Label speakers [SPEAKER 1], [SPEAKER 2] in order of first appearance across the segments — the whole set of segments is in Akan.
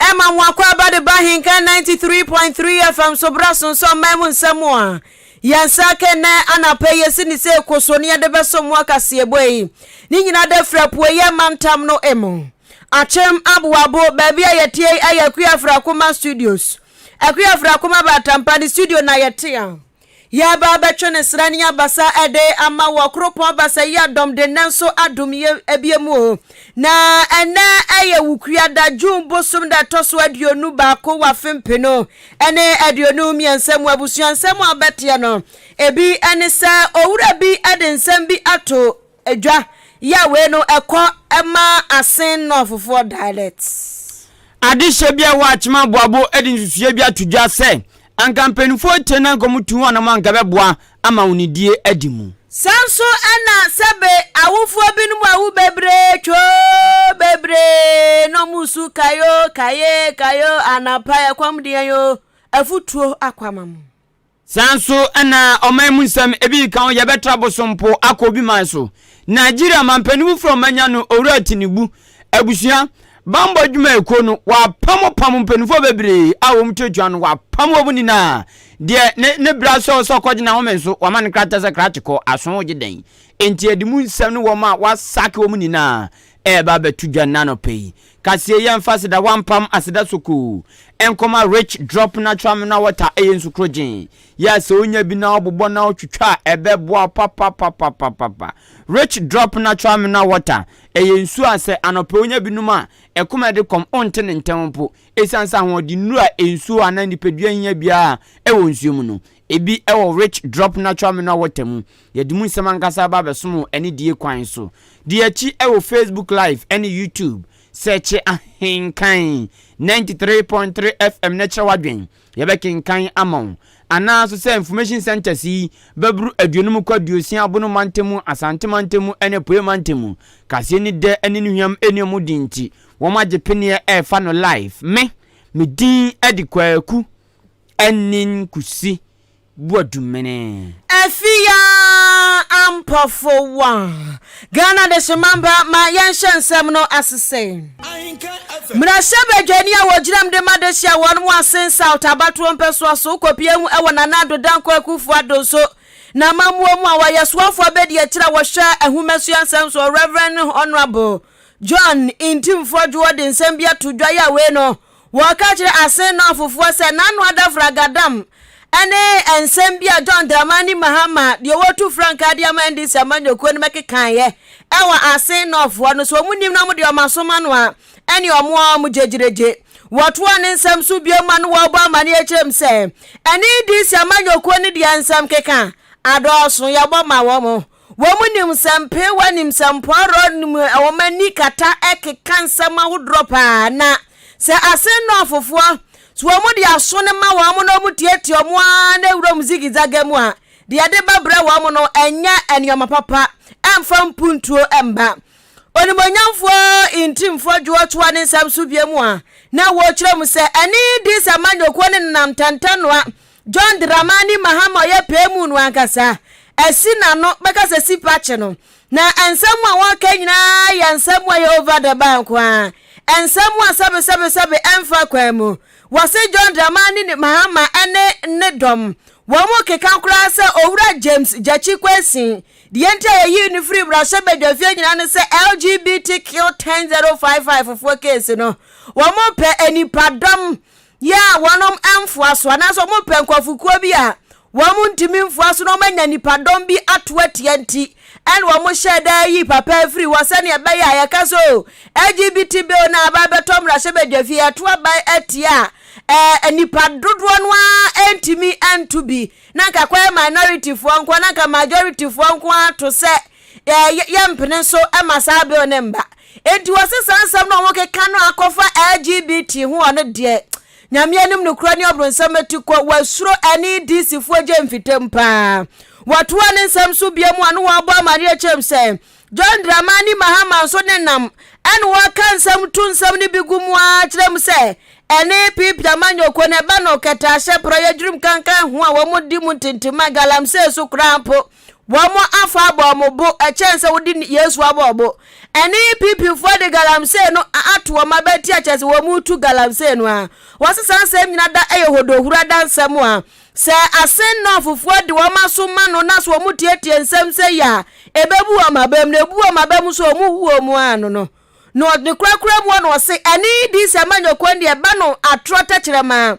[SPEAKER 1] Ɛma mo akwaaba de ba he kɛ 93.3 FM so bra sonso aman mu nsɛm a yɛn nsa aka nnɛ anapa yi yɛsi ne sɛ ɛkɔ so ne yɛde bɛsom mo akaseɛbɔ yi ne nyina da firi apueeɛ mantam no mu Akyem Aboabo baabi a yɛteɛ yi ɛyɛ Akua Afrakoma Studios Akua Afrakoma Baatampa ne studio na yɛte a. Yɛreba abɛtwe ne sra ne abasa de ama wɔ Koropɔn Basayi Dɔm Dennen so adom yɛ abie mu o. Na ɛnnɛ ɛyɛ Wukuada, June bosom da ɛtɔ so aduonu baako wɔ afe mpenu ne aduonu mmiɛnsa mu. Abusua nsɛm a wobɛteɛ no, ebi ne sɛ, Owura bi de nsɛm bi ato Edwa ya wei no ɛkɔ ma Asen Northfoɔ dialects. Adehyeɛ
[SPEAKER 2] bi a ɛwɔ Akyem Aboabo de nsusuiɛ bi ato dwa sɛ anka mpanimfoɔ tie na anka wɔtu wɔn anamɔ a anka ɛbɛboa ama wɔn die adi mu. Saa nso
[SPEAKER 1] na sɛbe awofoɔ binom awu bebree twoo bebree na wɔresu kae oo kae kae oo anapa ɛkɔm de yɛn oo afutuo akɔ ama mo. Saa nso
[SPEAKER 2] na ɔman mu nsɛm ebi nka ho yɛbɛtra Bosompo akɔ obi man so. Nigeria manpanimfo fura ɔmanya no Owura Tinubu abusua bammɔ adwumayɛkuo no wapam pam mpanimfoɔ bebree a wɔn tuatua no wapam wɔn nyinaa deɛ ne ne bra sɛ ɔsɛ ɔkɔgye n'ahome nso wama no krata sɛ krakye kɔ aso wogye dɛn enti ɛde mu nsɛm no wɔn a wasake wɔn nyinaa ɛreba abɛto dwa nnanɔpɛ yi Kaseɛ yi ɛmfa aseda hɔ ampam aseda sokoo nkɔma Rich Drop Natural Mineral Water ɛyɛ nsukorogyen yɛ a sɛ wonya bi na wobobɔ na wotwitwa a ɛbɛboa wo papapapapapa. Rich Drop Natural Mineral Water ɛyɛ nsuo a sɛ anɔpɛ wonya bi nom a ɛkoma ɛde kɔm wonte ne ntɛm mpo ɛsiane sɛ ahoɔdennuro a nsuo anaa nipadua hia biara ɛwɔ nsuo mu no Ebi wɔ Rich Drop Natural Mineral Water mu. Yɛde mu nsɛm ankasa reba abɛsom wo anidie kwan so. Di akyi wɔ Facebook Live ne YouTube. Sɛɛkye Ahenkan ninety three point three FM na kyerɛ w'adwen. Yɛbɛkenkan ama wo. Anaa nso sɛ Information Centres yi bɛboro aduonum kɔ aduosia Abono Mantam mu, Asante Mantam mu ne Apueɛ Mantam mu. Kaseɛ nni dɛ ne ne hwam nni wɔn din nti, wɔagye peneɛ refa no live. Me, me din de Kwaku Annin Kusi Boadumene. Afia
[SPEAKER 1] Ampofo Wa, Ghana Adehyemanba ma yɛnhyɛ nsɛm no ase sei. Mmarahyɛbadwani a wɔgyinam de ma adehye a wɔn mu asen South abatoɔ mpɛsoa so kɔpie ho wɔ Nana Addo Dankwa Akuffo Addo nso n'amammuo mu a wɔyɛ soafoɔ abɛdi akyire a wɔhwɛ nhomasua nsɛm soɔ Rev Honourable John Ntimfoɔ Dwoɔ de nsɛm bi ato dwa yɛ a wei no Wɔka kyerɛ Asen Northfoɔ sɛ n'ano ada fragadam ne nsɛm bi a John Dramani Mahama deɛ wɔtu frankaa de ama NDC amanyɔkuo no bɛkekaeɛ wɔ Asen Northfoɔ no sɛ wɔn nim na wɔn deɛ wɔn asom ano a ɛne wɔn a wɔn gyegyeregye. Wɔtoaa ne nsɛm so bio ma no wɔbɔ amaneɛ kyerɛ mu sɛ NDC amanyɔkuo no deɛ nsɛm keka adɔɔso, yɛbɔ ma wɔn. Wɔn nim nsɛmpeewa nim nsɛmpɔw rɔ nim wɔn ani kata keka nsɛm ahodoɔ paa na sɛ asen nnɔɔ fofoɔ so wɔn de aso no ma wɔn na wɔn tietie wɔn ara na wuram zigizaga mu a deɛ ɛde ba brɛ wɔn no ɛnyɛ nneɛma papa ɛmfa mpuntuo mma Onimonyamfoɔ Ntimfoɔ Dwoɔ toa ne nsɛm so bio mu a na wɔkyerɛ mu sɛ ɛne Diis amanyɔkuo no nenam Tantanoa John Dramani Mahama a ɔyɛ Pɛɛmu no ankasa, asi n'ano bɛka sɛ Sipa kye no, na nsɛm a wɔreka nyinaa yɛ nsɛm a ɛyɛ over the bar nko ara, nsɛm a sɛbesɛbesɛbe ɛmfa kwan mu. Wɔse John Dramani Mahama ne ne dɔm, wɔkeka koraa sɛ Owura James Gyakye Kwesin, deɛ nti a yɛyii no firii mmarahyɛbadwafie nyinaa ne sɛ LGBTQ 10055 foɔ case no, wɔpɛ nnipadɔm yɛ a wɔnom mfoa so anaasɛ wɔn mpɛ nkurɔfokuo bi a wɔn ntumi mfoa so na wɔn anya nipadɔm bi ato atia nti ɛna wɔn hyɛɛ da yi papa afiri hɔ sɛnea ɛbɛyɛ a yɛka sɛ o LGBT bill na aba abɛtɔ mmarahyɛ badwa fie ɛto aban atia a ɛɛ nipa dodoɔ no ara ntumi nto bi na nka kɔyɛ minority foɔ nko na nka majority foɔ nko ara to sɛ Yɛ yɛmpene so ma saa bill no mba. Enti wɔ se saa nsɛm no a wɔkeka no akɔfa LGBT ho wɔ no deɛ Nyame anim nokorɛ ne ɔbronsam ati kɔ. Wɔasuro ɛne DC foɔ gye mfitam paa. Wɔtoaa ne nsɛm so bio mu a no wɔabɔ amaneɛ kyerɛm sɛ John Dramani Mahama nso ne nam ɛne wɔka nsɛm to nsɛm no bi gu mu ara kyerɛ mu sɛ ɛne Pipi Amanyɔkuo no ɛba no kɛtɛ ahyɛ prɔyɛ dwerim kankan ho a wɔn di mu ntentemma galamsey so koraa mpo. Wɔafa abɔ wɔn bo kyɛn sɛ wode Yesu abɔ wɔn bo. Ɛne PPfoɔ de galamsey no ato wɔn abati akyerɛ sɛ wɔretu galamsey no ara. Wɔse saa nsɛm nyina da yɛ hodohuro adansɛm a sɛ asen Nɔɔfofoɔ de wɔn aso ma no na sɛ wɔtietie nsɛm sei a ɛbɛbu wɔn abam na ɛbu wɔn abam nso a wɔhu wɔn ano no no ne korakora mu hɔ na wɔse ɛne Diisa Manyɔkɔn deɛ ɛba no atorɔ tɛkyerɛma a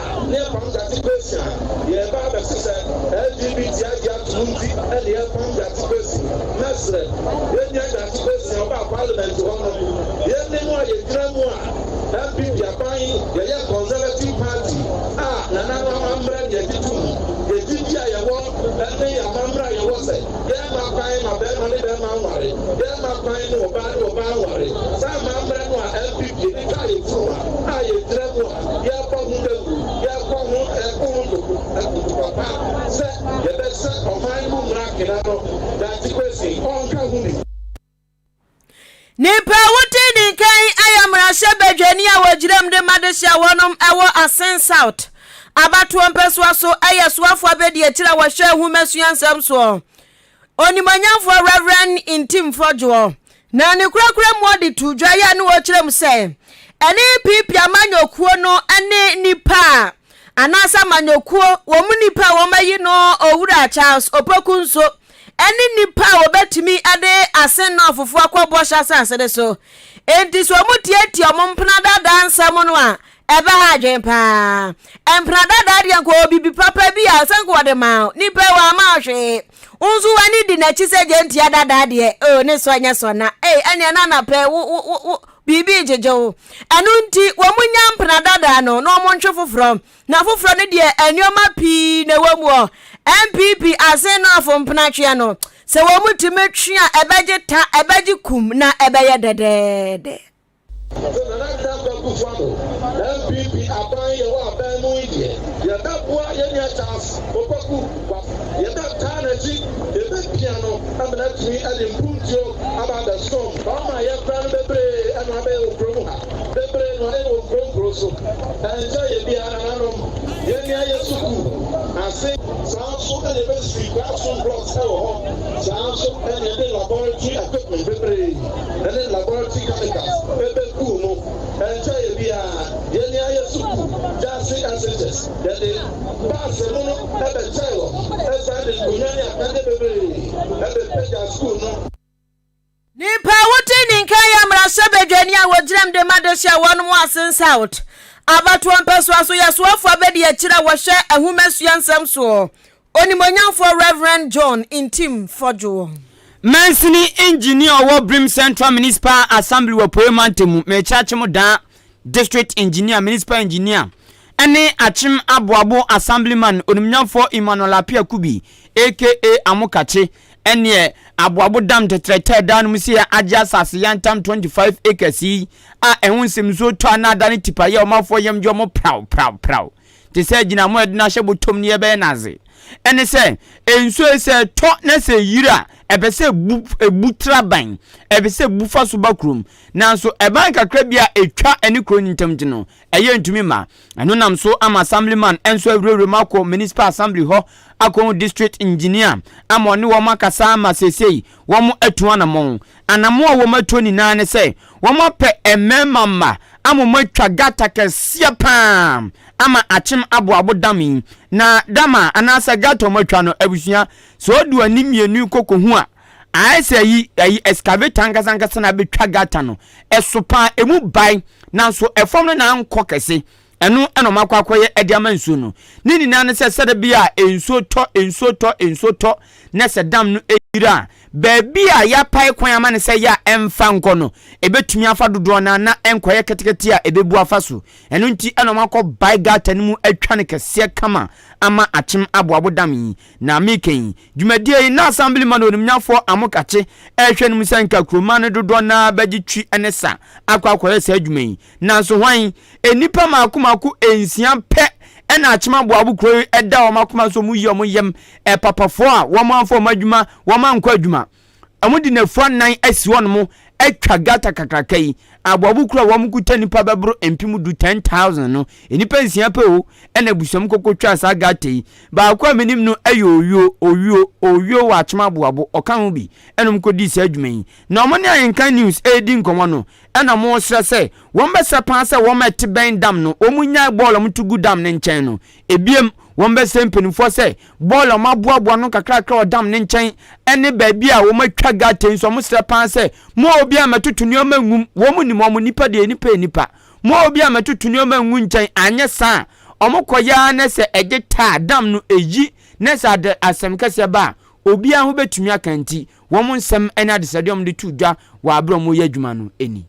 [SPEAKER 3] Adeɛ pam date kwesi a yɛreba abɛse sɛ LGBT agye atom nti na yɛrepam date kwesi. Mɛsrɛ, yɛnnya date kwesi a ɔbaa parliament hɔ no. Yɛne mo a yɛgyina mu a NPP aban yɛyɛ Conservative party a Nana no amammerɛ na yɛgye tom. Yɛn gyidie a yɛwɔ ne yɛn amammerɛ a yɛwɔ sɛ yɛremma kwan ma barima ne barima nware, yɛremma kwan ma ɔbaa ne ɔbaa nware. Saa amammerɛ no a NPP de twaa yɛn funuma a yɛgyina mu a. Yɛbɔ ho dawuru, yɛbɔ ho ɛko ho ntoku na ntoku
[SPEAKER 1] papa sɛ yɛbɛsɛ ɔman no mu mmara kena no Dankye Kwesi ɔnka ho bi. Nnipa a wodi ne nka yi yɛ mmarahyɛ badwani a wɔgyinam de ma dehye a wɔnom wɔ Asen South abatoɔ mpɛsoa so yɛ soafoɔ abadiakyire a wɔhwɛ nhomasua nsɛm soɔ. Onimuonyamfoɔ Rev. Ntim Fodwoɔ na ne korakora mu ɔde too dwa yi a na wɔkyerɛ mu sɛ ɛne PP amanyɔkuo no ne nnipa a anaasɛ amanyɔkuo wɔn mu nnipa a wɔayi no Owura Charles Opoku nso ne nnipa a wɔbɛtumi de asennɔɔfofoɔ akɔ Bɔhyɛ Asase no so. Enti sɛ wɔtiatia wɔn mpena daadaa nsɛm no a, Ɛbɛha adwene paa. Mpena dada deɛ nka ɔwɔ biribi papa bi a ɔsɛ nka ɔde maa wo. Nipa yi wamma wo hwee. Wo nso w'ani di n'akyi sɛ gyentia dada deɛ oh, ne sɔ nyɛ sɔ na ei ɛneɛ na anapɛ wo wo wo wo biribi gyegye wo. Ɛno nti wɔn nya mpena dada no na wɔn ntwe foforɔ. Na foforɔ no deɛ nneɛma pii na ɛwɔ mu ɔ. NPP asen no afo mpena tweɛ no. Sɛ wɔn tumi twe a ɛbɛgye ta ɛbɛgye kum na ɛbɛyɛ dɛdɛɛdɛ. Afei
[SPEAKER 3] Nana Dankwa Kufuado, NPP, aban yɛwɔ aban mu yi deɛ, yɛbɛboa yɛn nua Charles Opoku Boafo, yɛbɛtaa n'akyi, yɛbɛpia no ma no atumi de mpuntuo aba abɛsom wɔn a yɛafra no bebree na wɔabɛyɛ wɔ kuro mu ha, bebree na wɔayɛ wɔ nkuro nkuro so, ɛnkyɛrɛ yɛ biara nananom, yɛn nua yɛ sukuu ase. Saa nso na yɛbɛsi classroom blocks wɔ hɔ, saa nso na yɛde laboratory equipment bebree ne laboratory chemicals begu mu. Ɛnkyɛe biara, yɛne ayɛ sukuu gyaase assages. Yɛde baase mono bɛkyɛe hɔ san de nkonnwa ne akɛde bebree bepagya sukuu no. Nnipa
[SPEAKER 1] a wodi ne nka yɛ mmarahyɛbadwani a wogyinam de ma dehye a wɔnom Asin South abatoɔ mpɛsoa so yɛsoafoɔ abadiakyire a wɔhwɛ nhomasua nsɛm soɔ Onimuonyamfoɔ Rev. John Ntim Fordjoe wɔ. Mansini
[SPEAKER 2] Engineer ɔwɔ Brim Central Municipal Assembly wɔ Apueɛ Mantam mu, Mekyɛ Akyem Daa District Engineer, Municipal Engineer, ɛne Akyem Aboabo Assemblyman Onimnyamfoɔ Emmanuel Appiah Kubi aka Amokakye ɛneɛ Aboabo Dam Tetrɛtɛɛ Daa no mu sɛ agye asase yantam 25 acres yi a ɛho nsɛmnsuo tɔ a na adane tipaeɛ a ɔmanfoɔ yam gye wɔn praw praw praw te sɛ gyina mo a yɛde no ahyɛ bɔtɔm no yɛbɛyɛ no adze. Ɛne sɛ, nsuo yi sɛ ɛtɔ na sɛ ɛyiri a, ɛpɛ sɛ ɛbu ɛbu tra ban, ɛpɛ sɛ ɛbu fa so ba kurom. Nanso ɛban kakra bi a ɛtwa ɛne kuro no ntam nti no, ɛyɛ ntumi mma. Ɛno nam so ama Assemblyman nso awurawura mu akɔ Municipal Assembly hɔ akɔhu District Engineer ama ɔne wɔn akasa ama seesei wɔatu anamɔn Anammɔn a wɔatuo nyinaa ne sɛ wɔapɛ mmarima mma ama wɔatwa gata kɛseɛ pa ara ama akyem aboabo dam yi. Na dam a anaasɛ gata a wɔatwa no, abusua, sɛ ɔde ani mmienu kɔkɔhu a, ayɛ sɛ ayi, ayi, excavator ankasa ankasa na abɛtwa gata no. Ɛso pa ara, ɛmu bae, nanso ɛfam no na ankɔ kɛse. Ɛno na wɔakɔ akɔyɛ de ama nsuo no. Ne nyinaa ne sɛ sɛda bi a nsuo tɔ, nsuo tɔ, nsuo tɔ, na sɛ dam no yera a, baabi a yɛapae kwan ama no sɛ yɛ a ɛmfa nkɔ no, ɛbɛtumi afa dodoɔ no ara na ɛnkɔyɛ ketekete a ɛbɛbu afa so. Ɛno nti na wɔakɔbae gata no mu atwa no kɛseɛ kama ama akyem aboabo dam yi. Na meka yi, dwumadie yi, na Asamblima no onimnyafoɔ Amokachi rehwɛ no mu sɛ nka kuroman no dodoɔ no ara bɛgye twi ne sa akɔ akɔyɛ saa adwuma yi. Nanso hwan? Nnipa mmaako mmaako nsia pɛ na akyem aboabo kuro yi da wɔn akoma so wɔyi wɔn yam, papafoɔ a wɔamfa wɔn adwuma, wɔankɔ adwuma. Wɔde nnafua nnan asi hɔnom atwa gata kakraka yi. Aboabo kuro a wɔkuta nnipa bɛboro mpem du, 10,000, no, nnipa nsia pɛ o na abusua mu koko twaa saa gata yi. Baako a menim no yɛ Owuo, Owuo, Owuo wɔ akyem aboabo, ɔka ho bi. Ɛna wɔkɔdii saa dwuma yi. Na wɔne Ahenkan News redi nkɔmmɔ no, Ɛna wɔresrɛ sɛ wɔbɛsrɛ paa sɛ wɔn a ɛte bɛn dam no wɔnnyae bɔɔl a wɔto gu dam no nkyɛn no. Ebiem, wɔbɛsrɛ mpanimfoɔ sɛ bɔɔl a wɔaboaboa no nkakrakra wɔ dam no nkyɛn ne baabi a wɔatwa gata yi nso, wɔsrɛ paa sɛ, Mo a obiara mmɛtoto nneɛma ngum, wɔn nim wɔn nnipa deɛ, nnipa yɛ nnipa. Mo a obiara mmɛtoto nneɛma ngu nkyɛn, anyɛ saa a, wɔkɔyɛ ara na sɛ ɛgye ta a, dam no ɛyi, na sɛ asɛm kɛseɛ ba a, obiara ho bɛtumi aka nti, wɔn nsɛm ne adesrɛdeɛ a wɔde to dwa wɔ aberɛ a wɔreyɛ adwuma no ni.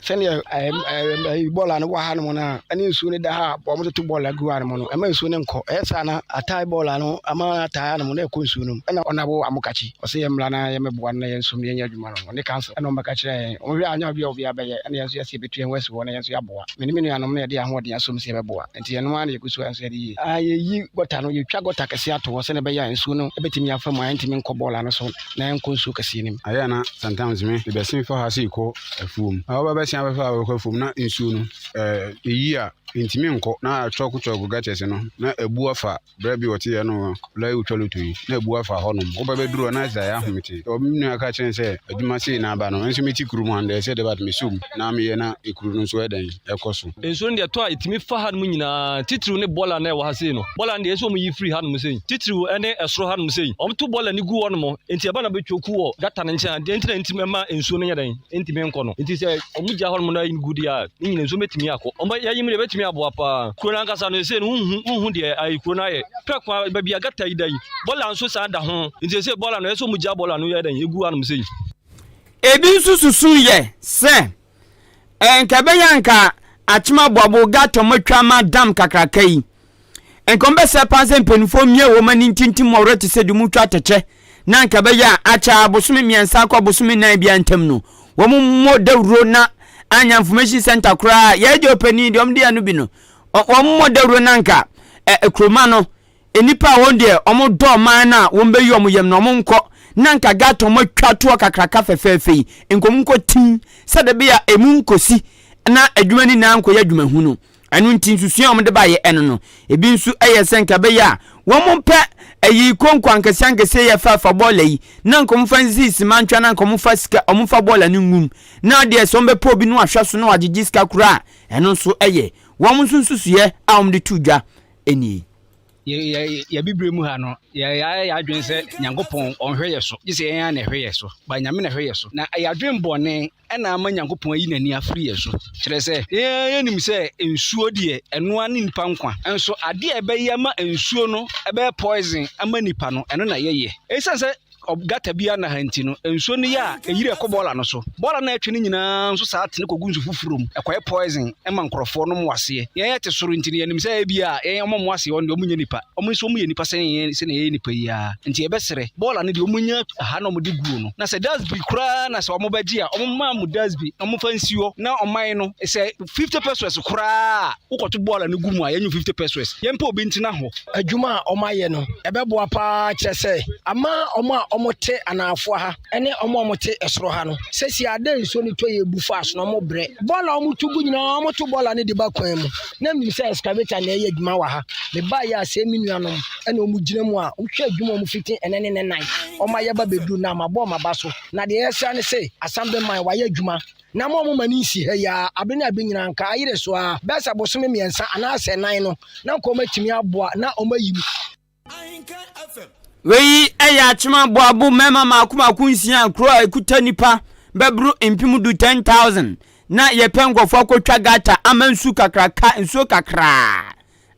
[SPEAKER 4] sɛdeɛ bɔɔl a no wɔ ha nom no a ɛne nsuo no da ha a wɔtoto bɔɔl agu ha nom no ɛma nsuo no nkɔ ɛyɛ saa na atae bɔɔl a no ama atae nom na ɛkɔ nsuo nom ɛna ɔna wo amokakyi ɔsɛ yɛ mmra na yɛmɛboa no na yɛn nso yɛnyɛ adwuma no ɔne council ɛna ɔmbɛka kyerɛ yɛn ɔhwɛ anya obi a obi abɛyɛ ɛna yɛn nso yɛsɛ yɛbɛtu yɛn ho asi hɔ na yɛn nso yɛaboa mene me nuanom na yɛde ahoɔden asom sɛ yɛbɛboa nti yɛn ara na yɛgu so nso de yi. Yɛyi gɔta no, yɛtwa gɔta kɛseɛ ato hɔ sɛdeɛ ɛbɛyɛ a nsuo no bɛtumi afa mu a ɛntumi nkɔ bɔɔla no so na ɛnkɔ nsuo kɛseɛ no mu. Ayɛ a na sometimes
[SPEAKER 5] me bɛsen fa ha sei kɔ afuom. Na wɔba bɛsen abɛfa ha bɛkɔ afuom na nsuo no ɛyi a ɛntumi nkɔ na chɔɔko chɔɔko gutters no na abu afa Berɛ bi ɔte yɛ no lɔya wotwa loto yi na abu afa hɔ nom woba bɛduru hɔ na ɛsɛ ayɛ ahomete ɔ me nua ka kyerɛ sɛ adwuma sei na aba no nso meti kuru mu and ɛsɛ debat mesɔ mu na meyɛ na ekuru no nso ɛdɛn ɛkɔ so. Nsuo no deɛ tɔ a ɛtumi
[SPEAKER 6] fa hanom nyinaa titiriw ne bɔla no a ɛwɔ ha sei no bɔla no deɛ ɛsɛ wɔn yi firi hanom sei titiriw ne ɛsoro hanom sei wɔn to bɔla no gu hɔ nom nti ɛba na bɛtwa ku wɔ gata no nkyɛn ha deɛ nti na ɛntumi mma nsuo no nyɛ dɛn ntumi nkɔ no nti sɛ wɔn gya hɔnom no ayim gu deɛ a ne nyina nsuo bɛtumi akɔ wɔn yɛyim deɛ bɛtumi aboa paa kuro no ankasa no ɛsɛ no wohu wohu deɛ ayi kuro no ayɛ pɛ kwa baabi a gata yi da yi bɔla nso saa da ho nti ɛsɛ bɔla no ɛsɛ wɔn gya bɔla no yɛ dɛn ɛgu hanom sɛ yi. ebi
[SPEAKER 2] nso susu yɛ sɛ ɛnkɛbɛyɛ nka akyemaboabo gata matwa ma dam kakraka yi Nkɔmbɛsɛɛ paa sɛ mpanyimfoɔ mmia wɔn ani ntintim mmɔwerɛ te sɛ dumutwa atɛkyɛ na anka ɛbɛyɛ a akyɛ ara bosome mmiɛnsa akɔ abosome nnan biara ntam no wɔmmɔ dawuro na anyɛ information center koraa a yɛagya ɔpanin deɛ wɔde ano bi no wɔmmɔ dawuro na anka ɛ kuroma no nnipa a wɔn deɛ wɔn dɔ ɔman no a wɔn bɛyi wɔn yam na wɔn nkɔ na anka gata wɔn atwa toɔ kakraka fɛfɛɛfɛ yi nkɔm nkɔ tim sɛdeɛ bɛyɛ a emu nkɔsi na adwuma no nyinaa nkɔyɛ adwuma hunu. Ɛno nti nsusua a wɔde baeɛ ɛno no, ebi nso yɛ sɛ nka ɛbɛyɛ a wɔmpɛ ayi konko ankɛseɛ ankɛseɛ yɛ fɛfa bɔɔla yi na nka wɔmfa nsi simantwa na nka wɔmfa sika wɔmfa bɔɔla no ngum na adeɛ sɛ wɔbɛpɛ obi no ahwɛ so na wagyegye sika koraa ɛno nso yɛ wɔn nso nsusuiɛ a wɔde to dwa nie.
[SPEAKER 4] yɛbibire mu ha no yɛayɛ yɛadwene sɛ nyankopɔn ɔnhwɛ yɛ so gye sɛ yɛn a na ɛhwɛ yɛ so ba nyame na ɛhwɛ yɛ so na ɛyɛ adwene bɔne na ama Nyankopɔn ayi n'ani afiri yɛn so. Kyerɛ sɛ, yɛn ara yɛnim sɛ nsuo deɛ, ɛno ara ne nnipa nkwa. Nso adeɛ a ɛbɛyɛ ama nsuo no bɛyɛ poison ama nnipa no, ɛno na yɛyɛ. Ɛsiane sɛ gutter biara nna ha nti no, nsuo no yɛ a, ɛyiri ɛkɔ bɔɔla no so. Bɔɔla no a ɛtwe no nyinaa nso saa tene kɔgu nsu foforɔ mu. Ɛkɔyɛ poison ma nkurɔfoɔ nom aseɛ. Yɛn yɛte soro nti no, yɛnim sɛ ebia yɛn wɔn a wɔwɔ aseɛ hɔ no deɛ, wɔnyɛ nnipa. Wɔn nso wɔyɛ nnipa sɛn yɛn sɛnea yɛyɛ nnipa yi ara. Nti yɛbɛsrɛ, bɔɔla no deɛ wɔnya ha na wɔde guo no, na sɛ dasbi koraa na sɛ wɔbɛgye a, wɔmma mo dasbi na wɔmfa nsi hɔ na ɔman no, sɛ fifty pesewas koraa a wokɔto bɔɔla no gu mu a, yɛnyɛ wo fifty pesewas. Yɛmpɛ obi ntena hɔ. Adwuma a wɔayɛ no, ɛbɛboa pa ara kyerɛ sɛ, ama wɔn a wɔte anaafoa ha ne wɔn a wɔte soro ha no. Seesei a dɛ nsuo no tɔ yɛ bu fast no, wɔbrɛ. Bɔɔla a wɔto gu nyinaa, wɔto bɔɔla no de ba kwan mu. na menim sɛ excavator na ɛyɛ adwuma wɔ ha mebaeɛ a sɛ me nuanom ɛna wɔn gyina mu a wɔhwɛ adwuma wɔn fiti ɛnɛ ne ne nan wɔn ayɛ ba bɛduru na ma bɔ ma ba so na deɛ ɛsra ne sɛ asam bɛ man wɔayɛ adwuma na mo a mo ma ne nsi ha yi a abe ne abe nyinaa nka ayere so a bɛsa bosome mmiɛnsa anaasɛ nan no na nka wɔn atumi aboa na wɔn ayi mu.
[SPEAKER 3] Wei yɛ
[SPEAKER 2] akyem aboabo mmarima mmaako mmaako nsia a kuro a ɛkuta nnipa bɛboro mpem du 10,000 na yɛpɛ nkurɔfoɔ akɔtwa gata ama nsu kakraka nsuo kakraa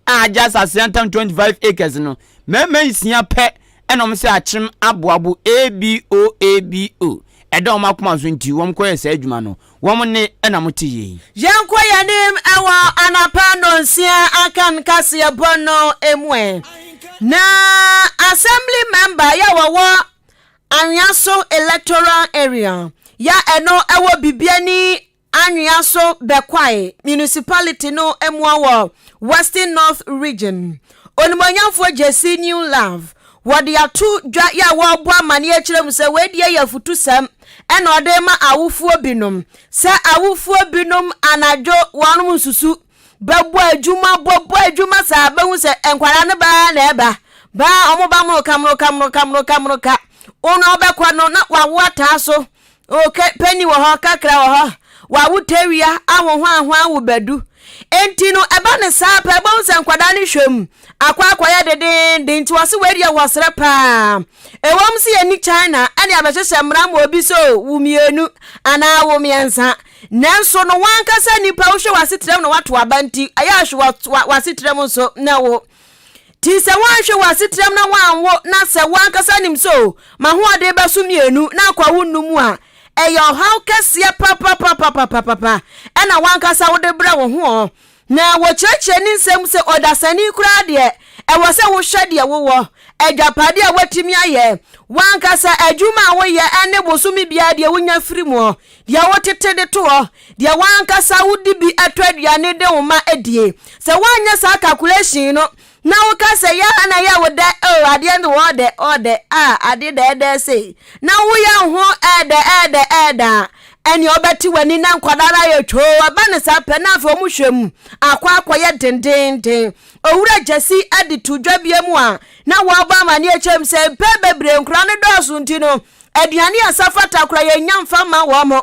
[SPEAKER 2] a agye asase yantam 25 acres no mmarima nsia pɛ ɛna wɔn sɛ akyem aboabo ABOABO ɛda wɔn akoma so nti wɔn kɔyɛ saa adwuma no wɔn nne na mote yei. Yɛnkɔ yɛn anim
[SPEAKER 1] wɔ anapa nnɔnsia aka nkaseɛbɔ no mu ɛ. Na assembly member yɛ wɔwɔ anwea so electoral area yɛ ɛno ɛwɔ bibiani anwea so bɛkwae municipality no mua wɔ western north region onimonyamfoɔ gyesi new love wɔde ato dwa yɛ a wɔrebɔ amaneɛ kyerɛ mu sɛ wei deɛ yɛ afutusɛm ɛna ɔde ma awofoɔ binom sɛ awofoɔ binom anadwo wɔn nsusu bɛbɔ adwuma bɔbɔ adwuma saa bɛhu sɛ nkwadaa no baa na ɛba baa wɔn ba moroka moroka moroka moroka moroka wɔn a ɔbɛkɔ no na wawo ataa so oke pɛni wɔ hɔ kakra wɔ hɔ wawo tawia ahoho ahoa wo bɛdu enti no ɛba ne saa pɛ bɛhu sɛ nkwadaa no hwɛ mu akɔ akɔyɛ dedeenden nti wɔse wei deɛ wɔsrɛ paa ɛwɔm sɛ yɛni China ɛne abɛhyehyɛ mmara ma obi sɛ wo mmienu anaa wo mmiɛnsa nanso no wankasa nipa wohwɛ w'asetrɛm na wato aba nti ɛyɛ ahwe w'asetrɛm nso na wo ti sɛ woanhwɛ w'asetrɛm na woanwo na sɛ woankasa nim sɛ o ma hoɔden bɛso mmienu na akɔ wo nnu mu a ɛyɛ ɔhaw kɛseɛ papapapapapapa ɛna wankasa wode brɛ wo ho Na wɔkyerɛkyerɛ ne nsɛm mu sɛ ɔdasani koraa deɛ, ɛwɔ sɛ wohwɛ deɛ wowɔ, agyapadeɛ a woatumi ayɛ, w'ankasa adwuma a woyɛ ne bosome biara deɛ wonya firi mu, deɛ wotete de to hɔ, deɛ w'ankasa wode bi tɔ aduane de wo mma die. Sɛ woanyɛ saa kakuleehyin no Na woka sɛ, Yɛ ha na yɛ wo dɛ o, adeɛ no ɔɔ dɛ, ɔɔ dɛ, a, adeɛ dɛ ɛɛdɛ sei. Na woyɛ wo ho ɛɛdɛ, ɛɛdɛ, ɛɛdɛ a, ɛnneɛ wobɛte w'ani na nkwadaa no ayɛ twoo, ɛba no saa pɛ na afei wɔhwɛ mu akɔ akɔyɛ dendeenden. Owura Gyasi de too dwa bia mu a na wɔrebɔ amanneɛ kyerɛ mu sɛ mpɛn bebree nkwadaa no dɔɔso nti no, aduane a ɛsɛ fata koraa yɛnnya mfa mma wɔn.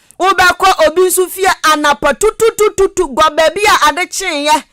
[SPEAKER 1] Wobɛkɔ obi nso fie anapa tututututu gɔ baabi a ade kyeeɛ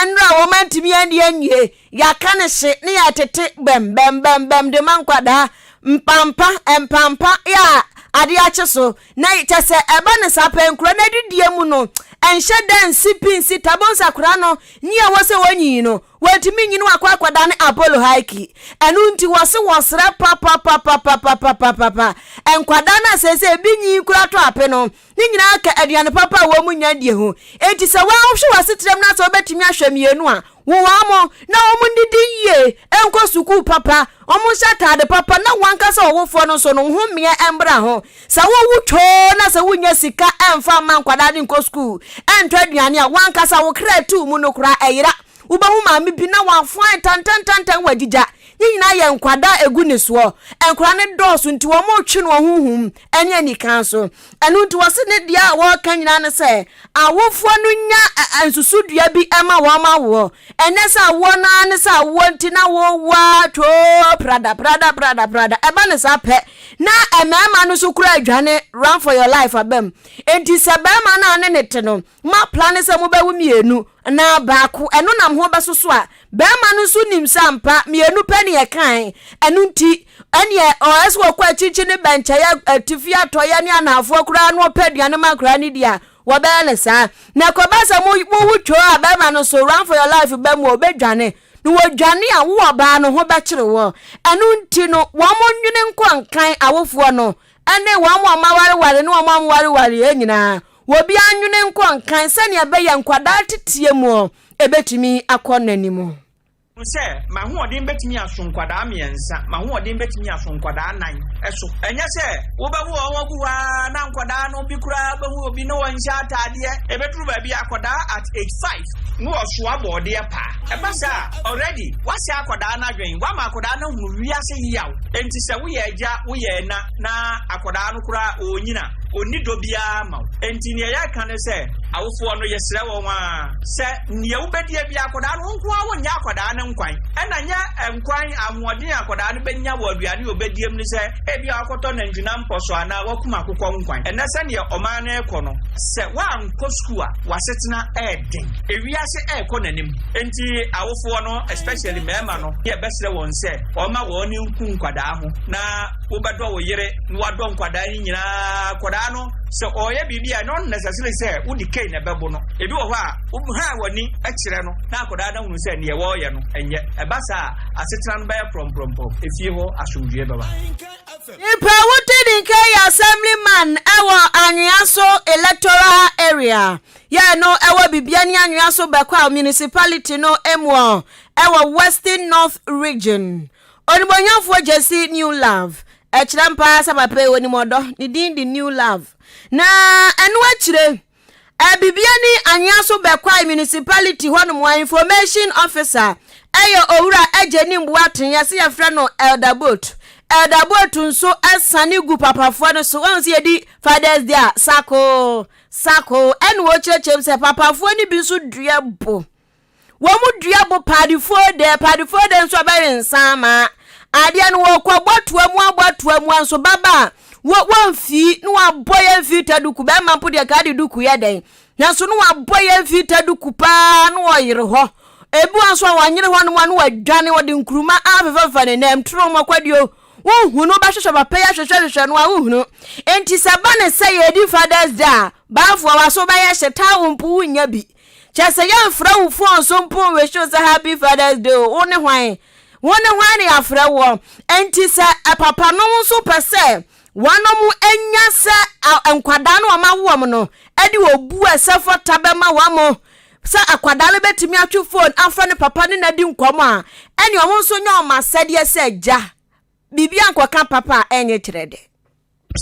[SPEAKER 1] nnora a wɔantumi ani anwie, yɛaka no hye ne yɛtete bɛm bɛm bɛm bɛm de ma nkwadaa mpampa mpampa yɛ a ade akye so na kyɛ sɛ ɛba ne saa pɛ nkura no adidie mu no ɛnhyɛ da nsi pi nsi tabonsa kora no nyi a wɔ sɛ wɔnyi no Wantumi nyi no akɔ akɔdane Apollo Haiki. Ɛno nti wɔse wɔsrɛ papapapapapapapapa nkwadaa no a seesei ebi nyin koraa tɔ ape no, ne nyinaa ka aduane papa a wɔnya die ho. Enti sɛ woanhwɛ w'asetra mu na sɛ wobɛtumi ahwɛ mmienu a, wo wɔn na wɔn nnidi yie, nkɔ sukuu papa, wɔnhyɛ ataade papa na wɔn ankasa wɔwofoɔ no nso no ho mmeɛ mmra ho. Sɛ wowu too na sɛ wunnya sika mfa mma nkwadaa no nkɔ sukuu, ntɔ aduane a, w'ankasa wo kra atu mu no koraa ɛyera. Wubehu maame bi na wafoa ntɛntɛntɛntɛn wagyigya. Ne nyinaa yɛ nkwadaa a egu ne soɔ. Nkwadaa no dɔɔso nti wɔretwe no wɔ honhom ne anikan so. Ɛno nti wɔse ne deɛ a wɔreka nyinaa ne sɛ awofoɔ no nya nsusudua bi ma wɔn awoɔ. Ɛnyɛ sɛ awoɔ no ara ne sɛ awoɔ nti na wowo ara twoo prada prada prada prada. Ɛba no saa pɛ na mmarima no nso kura adwane run for your life aba mu. Enti sɛ barima no a ne ne te no moaplane sɛ mobɛwo mmienu anaa baako ɛno nam ho bɛsoso a, barima no nso nim sɛ ampa mmienu pɛ ne ɛkae. Ɛno nti ɛneɛ ɔyɛ sɛ ɔkɔ akyirikyiri ne bɛnkyɛeɛ, atifi, atɔeɛ ne anaafoɔ koraa na ɔpɛ aduane ma nkwadaa no di a, Wɔbɛyɛ no saa. Na ɛkɔba sɛ mo mo ho twoo a barima no so run for your life ba mu a ɔbɛdwane. Na wɔdwane a wo ɔbaa no ho bɛkyere wo. Ɛno nti no wɔn mo nwene nkɔ nkan awofoɔ no ne wɔn mo a moawareware ne wɔn a moawareware nyinaa. Wɔbiara nwene nkɔ nkan sɛdeɛ ɛbɛyɛ nkwadaa teteɛ mu ɛbɛtumi akɔ n'anim. Hu sɛ,
[SPEAKER 7] M'ahoɔden betumi aso nkwadaa mmiɛnsa, m'ahoɔden betumi aso nkwadaa nnan so. Ɛnyɛ sɛ wobɛwo wɔn agu hɔ ara na nkwadaa no bi koraa behu obi ne wɔn nhyɛ ataadeɛ. Ebeduru baabi a akwadaa at age five no wɔsoa bɔɔdeɛ paa. Ɛba saa a, already woasɛe akwadaa no adwene, woama akwadaa no ahunu wiase yaw. Enti sɛ woyɛ agya, woyɛ ɛna na akwadaa no koraa ɔrenyin a, ɔnni dɔ biara ma wo. Enti nea yɛreka ne sɛ, awofoɔ no yɛsrɛ wɔn ara sɛ, Nea wobedie biara, akwadaa no, wo nko ara wonyɛ akwadaa no nkwan. Ɛna nyɛ nkwan, ahoɔden a akwadaa no benya wɔ aduane a obedie mu no sɛ ebia wakɔtɔ nantwinam pɔ so anaa wakum akokɔ nkwan. Ɛnnɛ sɛdeɛ ɔman no rekɔ no, sɛ woankɔ sukuu a, w'asetena reden. Ewiase rekɔ n'anim, enti awofoɔ no, especially mmarima no, yɛbɛsrɛ wɔn sɛ wɔmma wɔn ani nku nkwadaa ho. Na wobɛdɔ wo yere na woadɔ nkwadaa no nyinaa. Akwadaa no, sɛ ɔreyɛ biribi a, ɛnyɛ unnecessary sɛ wode cane bɛbo no. Ebi wɔ hɔ a, wo hann w'ani kyerɛ no na akwadaa no ahunu sɛ nea wɔreyɛ no nyɛ. Ɛba saa a, asetena no bɛyɛ prɔmprɔmpɔm, efie hɔ asomdwoe bɛba. Nipa
[SPEAKER 1] a wodi ne kan yɛ Assemblyman wɔ Anweaso Electoral Area, yɛɛ no wɔ Bibiani Anweaso Bɛkwaw Municipality no mu wɔ Western North Region. Onimuonyamfoɔ Jesse New Love, ɛkyerɛ mpa ara sɛ papa yi ɔnim ɔdɔ, ne din de New Love, na ɛno akyire, Abibiani Anyaso bɛkwae municipality hɔnom a information officer yɛ Owura Agyenim Boateng, yɛse yɛfrɛ no Elder Boat. Elder Boat nso sane gu papafoɔ no so. Wɔn sɛ yɛdi Father's Day a, sako, sako, ɛna wɔkyerɛkyerɛ mu sɛ papafoɔ no bi nso dua bo. wɔdua bo padefoɔ dɛ padefoɔ dɛ nso ɔbɛwe nsa ama adeɛ no wɔkɔ bɔtoa mu abɔtoa mu nso baba a wɔmfi na wɔabɔ yɛn mfiri ta duku bɛrima mpo deɛ kaa de duku yɛ dɛn nanso na wɔabɔ yɛn mfiri ta duku paa na wɔyere hɔ ebi wɔn nso a wɔnyere hɔ nom a na wɔadwane wɔde nkuruma afefɛfa ne nam turo wɔn akwadeɛ wohunu bɛhwehwɛ papa yi ahwehwɛhwehwɛ no a wohunu nti sɛ ba ne sɛ yɛdi fathers day a baafoɔ waso bɛyɛ hyɛ taa wo mpo wonya bi Kyɛ sɛ yɛmfrɛ wo fon so mpo nhwehyew sɛ happy fathers day o wo ne hwan wo ne hwan ne yɛafrɛ woɔ nti sɛ papanom nso pɛ sɛ wɔnom nya sɛ nkwadaa no wɔma woɔm no de obu a ɛsɛ fata bɛma wɔn sɛ akwadaa no bɛtumi atwe fon afrɛ ne papa ne nadi nkɔm a ɛne wɔn nso nya wɔn asɛdeɛ sɛ gya biribi ankɔka papa a ɛnyɛ kyerɛ dɛ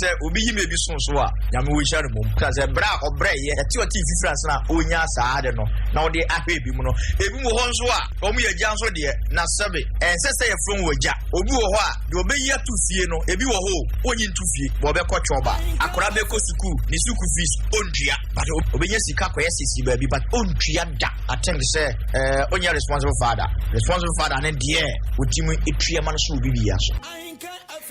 [SPEAKER 1] sɛ obi
[SPEAKER 8] yi baabi so so a nyame wɔhyira no mmom ka sɛ berɛ a ɔbrɛeɛ ɛte ɔte fifiri ase na ɔnya saa ade no na ɔde ahwɛ ebi mu no ebi mu hɔ nso a wɔn yɛ agya nso deɛ na sɛbe ɛnsɛ sɛ yɛfrɛ wɔn agya obi wɔ hɔ a deɛ ɔbɛyi ato fie no ebi wɔ hɔ o ɔnyi nto fie bɔ ɔbɛkɔ twɔba akora bɛkɔ sukuu ne sukuu fees ɔntua but ɔbɛnya sika kɔyɛ sisi baabi but ɔntua da atem sɛ ɛɛ ɔnyɛ responsible father responsible father ne deɛ ɔtumi ɛtua ma no so wɔ biribi aso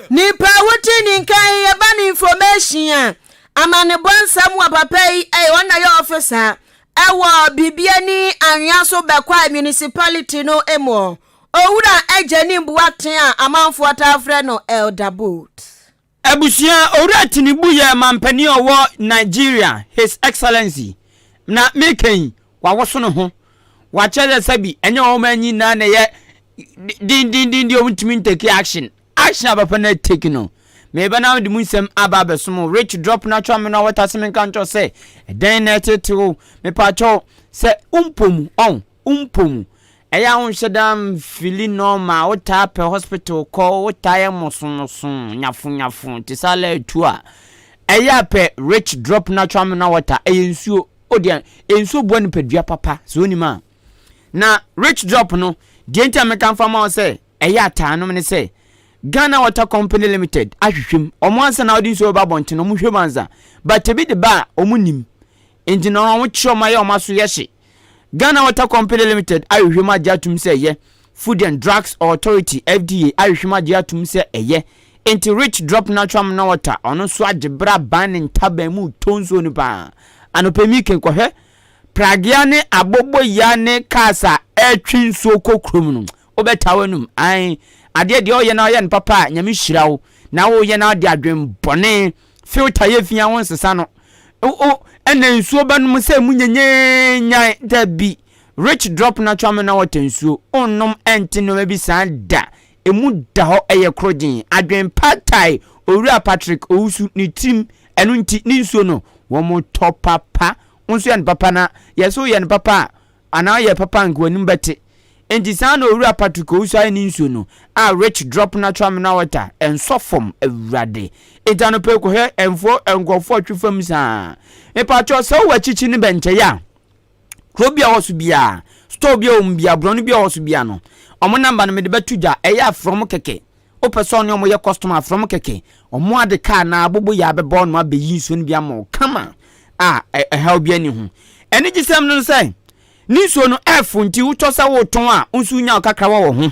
[SPEAKER 8] Nipa
[SPEAKER 1] a wote ne nka yi yɛ ba ne information a amanebɔ nsɛm wɔ papa yi ɛyɛ ɔna yɛ office a ɛwɔ bibia ni anwea so bɛkɔ a municipality no mu owura agya ni mboa ten a amanfoɔ taa frɛ no elder boat. Abusua
[SPEAKER 2] owura tinibu yɛ mampanin ɔwɔ Nigeria his excellency na meka yi wɔawoso ne ho, wɔakyerɛ sɛ sɛbi ɛnyɛ wɔn ani nyinaa na ɛyɛ dendenden deɛ wɔntumi ntake action. Action a papa no atake no, meba na mede mu nsɛm aba abɛso mo. Rich drop no atwa me no awɔta sɛ menka nkyerɛ wo sɛ ɛdɛn na ɛtete wo, mepaakyɛ wo sɛ wompɔ mu, ɔn, wompɔ mu. Ɛyɛ a wonhyɛ da mfili normal, wotaa pɛ hospital kɔ, wotaa yɛ mosomoso, nyafonyafo, te sɛ alɛ atu a. Ɛyɛ a pɛ Rich drop no atwa me no awɔta, ɛyɛ nsuo. O dear nsuo boa nipadua papa sɛ onim a. Na rich drop no deɛ nti a meka mfa ma wo sɛ ɛyɛ ataa nom ne sɛ Ghana water company limited ahwehwɛ mu ɔmo ansa na ɔde nsuo bɛba abɔnten no ɔmo hwɛ mu ansa but ebi de ba a ɔmo nim nti na ɔmo kyerɛ ɔmo ayɛ ɔmo aso yɛ hye Ghana water company limited ahwehwɛ mu agye atum sɛ yɛ Food and Drugs Authority, FDA, ahwehwem agye atom sɛ ɛyɛ. Enti Rich Drop Natural Mineral Water, ɔno nso agye bere aban ne ntaban mu tɔ nsuo no paa. Anɔpa mi ke kɔhwɛ pragea ne aboboya ne cars a ɛretwe nsuo kɔ kurom no, wobɛtaa w'anum. Ae, adeɛ deɛ woyɛ na woyɛ no papa a, Nyame hyira wo. Na woyɛ na wode adwen bɔne, filter yɛ fi a wonsesa no. O, o, ɛna nsuo bɛnom sɛ mu nyenyenyan, dabi. Rich drop natural mineral water nsuo onnom ɛnte nnoɔma bi saa da ɛmu da hɔ ɛyɛ krogyen adwen pad thai owura Patrick Owusu ne tirim ɛno nti ne nsuo no wɔn tɔ papa wo nso yɛ no papa na yɛ so yɛ no papa a anaa yɛ papa anka w'anim bɛte nti saa na owura Patrick Owusu ayɛ ne nsuo no a Rich drop natural mineral water ɛnsɔ fam awurade nti anɔpɛ yi kɔhwɛ ɛnfoɔ nkurɔfoɔ twe fam saa mepatwɔ sɛ wowɔ akyikyi ne bɛnkyɛyɛ a kuro bi a ɔwɔ so biara store bi a wɔn biara borɔno bi a ɔwɔ so biara no wɔn namba no mede bɛto dwa ɛyɛ afrɛ wɔn kɛkɛ wopɛ sɛ ɔne wɔn yɛ customer afrɛ wɔn kɛkɛ wɔn ade kaa na abobo yɛ abɛbɔ no abɛyi nsuo no bi ama wɔn kama a ɛhaw bi ani ho anigyesɛm no sɛ ne nsuo no ɛfo nti wotɔ sɛ wotɔn a nso nya kakra wɔ wɔ ho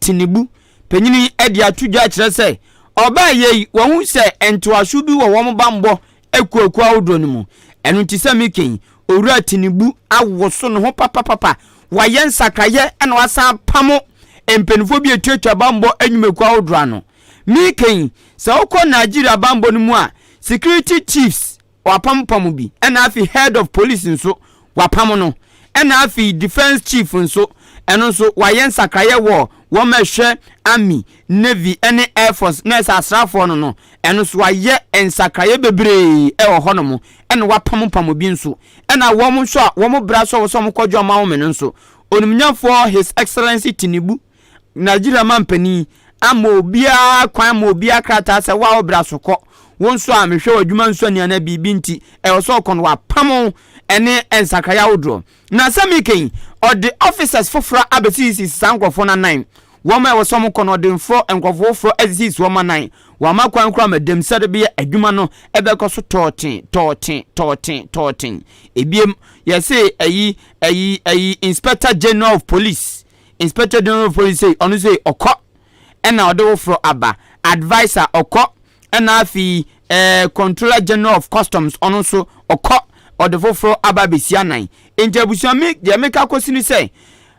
[SPEAKER 2] Tinubu, panyin yi de ato dwa kyerɛ sɛ ɔbaayɛ yi wahu sɛ ntoaso bi wɔ wɔn bammɔ akuakuo ahodoɔ no mu. Ɛno nti sɛ meka yi, Owura Tinubu awoso ne ho papapapa, wayɛ nsakraeɛ na wasan apamo mpanimfoɔ bi a ɛtuatua bammɔ nnwumakuo ahodoɔ ano. Meka yi, sɛ wokɔ Nigeria bammɔ no mu a, security chiefs, Wɔapam pam bi ɛna afei head of police nso wɔapam no ɛna afei defence chief nso ɛno nso wɔayɛ nsakraeɛ wɔ wɔn a ɛhwɛ army, navy ɛne air force na ɛsɛ asraafoɔ no no ɛno nso wɔayɛ nsakraeɛ bebree ɛwɔ hɔ nom ɛna wɔapam pam bi nso ɛna wɔn nso a wɔn bra sɛ wɔn sɛ wɔn kɔdwo amawome no nso Onimnyafoɔ his excellency Tinubu Nigeria mampanin ama obiara kwan ma obiara krataa sɛ wa ɔbra so kɔ wo nso a mehwɛ w'adwuma nso ani anaa biribi nti ɛwɔ sɛ ɔkɔ no wapam ɛne nsakraeɛ ahodoɔ na sɛ meka yi ɔde officers foforɔ abɛsisisi saa nkurɔfoɔ no anan wɔn a ɛwɔ sɛ wɔkɔ no ɔde mforɔ nkurɔfoɔ foforɔ asisisi wɔn anan wɔama kwan koraa ma dɛm sɛde bɛyɛ adwuma no ɛbɛkɔ so tɔɔten tɔɔten tɔɔten tɔɔten ebiem yɛse ayi ayi ayi inspector general of police Inspector General of Police sei, ɔno sei, ɔkɔ ɛna ɔde wo forɔ aba. Adviser, ɔkɔ ɛna afei eh, Controller General of Customs, ɔno nso ɔkɔ ɔde foforɔ aba bɛsi anan. Nti abusua me deɛ meka kɔsi ne sɛ,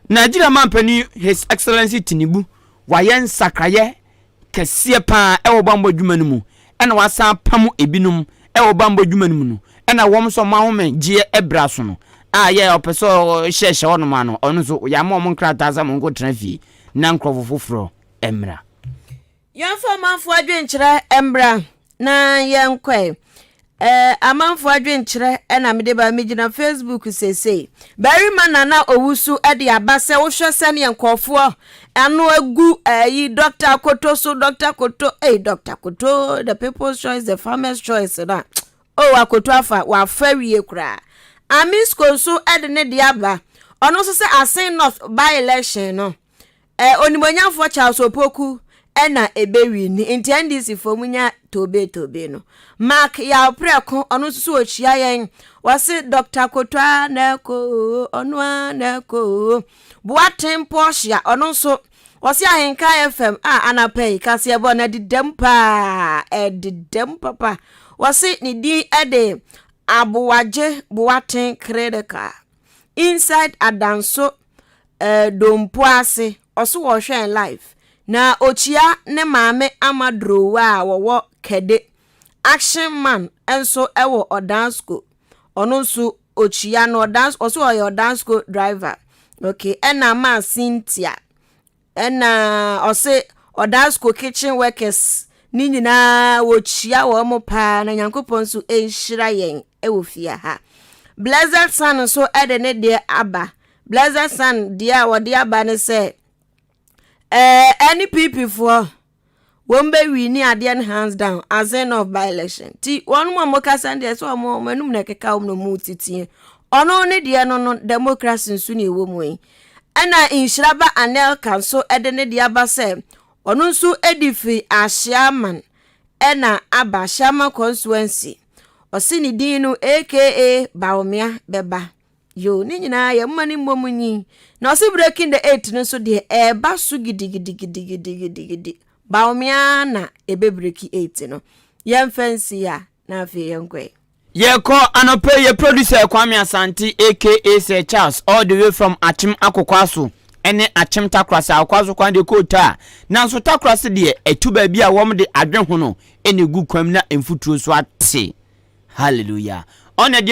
[SPEAKER 2] Nigeria mampanin His Excellency Tinubu wayɛ nsakraeɛ kɛseɛ pa ara wɔ bammɔ adwuma no mu, ɛna wɔasan apamo binom wɔ bammɔ adwuma no mu no, ɛna wɔn nso wɔn ahomegyeɛ berɛ so no, a yɛ a ɔpɛ sɛ ɔhyɛhyɛ hɔnom a no, ɔno nso yɛama wɔn nkrataa sɛ wɔnkɔtena fie na nkurɔfo foforɔ mmra. Yɛmfa
[SPEAKER 1] ɔmanfoɔ adwenkyerɛ mmra na yɛnkɔe. Ɛɛ amanfoɔ adwenkyerɛ na mede ba. Megyina Facebook seesei. Barima na na ɔwusu de aba sɛ wohwɛ sɛdeɛ nkurɔfoɔ ano agu ayi Dɔkta Akoto so Dɔkta Akoto ei Dɔkta Akoto the people's choice the farmers choice na o oh, Akoto afa wafa wie koraa Amisco nso de ne deɛ aba ɔno nso sɛ Asen North by election no Ɛ, Onimuonyamfoɔ Charles Opoku na ɛbɛ winni nti NDC foɔ mu nya toobee toobee no. Mark Yaw Prɛko ɔno nso so ɔkyia yɛn ɔse Doctor Koto a na ɛkɔ oo ɔno a na ɛkɔ oo. Boaten Portia ɔno nso ɔse Ahenka FM a anapa yi kaseɛbɔ no ɛdedam paa ɛdedam papa ɔse ne din ɛde Aboagye Boaten Critical. inside adanso eh, dompo ase ɔso wɔhwɛn live na okyia ne maame ama durowa a wɔwɔ kɛde action man nso wɔ ɔdansko ɔno nso okyia no ɔdansko ɔso ɔyɛ ɔdansko driver okay ɛna maa cynthia Ɛna ɔse ɔdaa school kitchen workers ne nyinaa wɔkyia wɔn mo paa na Nyankopɔn nso nhyira yɛn wɔ fie ha. Blessed Son nso de ne deɛ aba. Blessed Son deɛ a wɔde aba ne sɛ ɛɛ ɛne PP foɔ. wɔn bɛ wi ne adeɛ no hands down as end of by election ti wɔn mu a wɔn kasa no deɛ sɛ wɔn wɔn anum na ɛkeka wɔn na wɔn titiɛ ɔno ne deɛ no no democracy nso na ɛwɔ mu yi ɛna nhyiraba anelka nso ɛde ne deɛ aba sɛ ɔno nso ɛdi firi ahyiaman ɛna aba ahyiaman constituency ɔsi ne din no aka baomia bɛba. yo ne nyinaa yɛ mma ne mmom nyin na ɔse breaking the eight no nso deɛ ɛɛba so gidigidigidigidigidi baomea na ebe breaking eight no yɛn fɛnsi ya na afei yɛn kɔɛ. yɛkɔ
[SPEAKER 2] anɔpɛ yɛ producer kwame asante aka sɛ charles all the way from akyem akokwaso ɛne akyem takorase akokwaso kwan deɛ kɔɔ taa nanso takorase deɛ ɛtu baabi a wɔn de adwe ho no ɛna egu kwam na mfuturo nso ate hallelujah ɔna deɛ